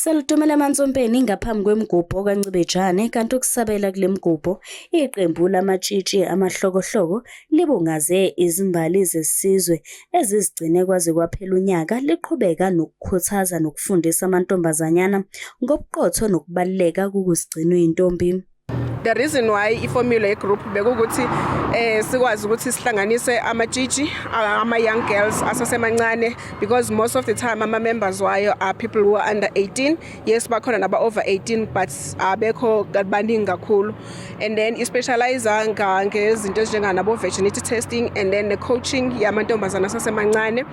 Salutomela emansompeni ngaphambi kwemigubho kaNcibejane kanti ukusabela kule migubho iqembu lamatshitshi amahlokohloko libungaze izimbali zesizwe ezizigcine kwaze kwaphela unyaka liqhubeka nokukhuthaza nokufundisa amantombazanyana ngobuqotho nokubaluleka kokuzigcina uyintombi. the reason why iformula yegroup bekukuthi eh sikwazi ukuthi sihlanganise amatshitshi ama young girls asasemancane because most of the time ama members wayo are people who are under 18 yes bakhona naba over 18 but abekho baningi kakhulu and then i specialize ngezinto ezinjenga nabo virginity testing and then the coaching yamantombazana asasemancane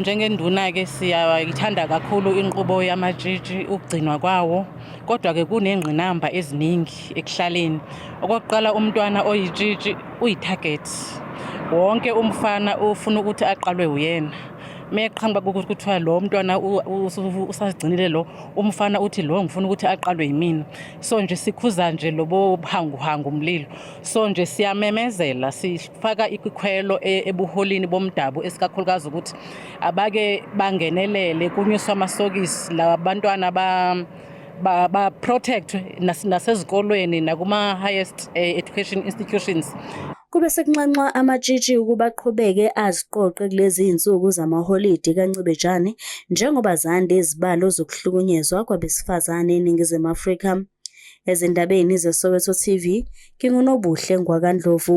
Njengenduna-ke siyayithanda kakhulu inqubo yamatshitshi ukugcinwa kwawo kodwa-ke kunengqinamba eziningi ekuhlaleni. Okokuqala umntwana oyitshitshi uyi-target. Wonke umfana ufuna ukuthi aqalwe uyena. Meqhamuka kuthiwa lo mntwana usazigcinile lo umfana uthi lo ngifuna ukuthi aqalwe yimina. So nje sikhuza nje lobo buhanguhangu mlilo. so nje siyamemezela sifaka ikhwelo e, ebuholini bomdabu esikakhulukazi ukuthi abake bangenelele kunyuswa amasokisi la bantwana ba ba, ba protect nasezikolweni nakuma highest eh, education institutions kube sekunxanxwa amatshitshi ukuba aqhubeke aziqoqe kulezi zinsuku zamaholidi kancibejane njengoba zande izibalo zokuhlukunyezwa kwabesifazane eningizimu Afrika Ezindabeni zeSoweto TV, nginguNobuhle Ngwakandlovu.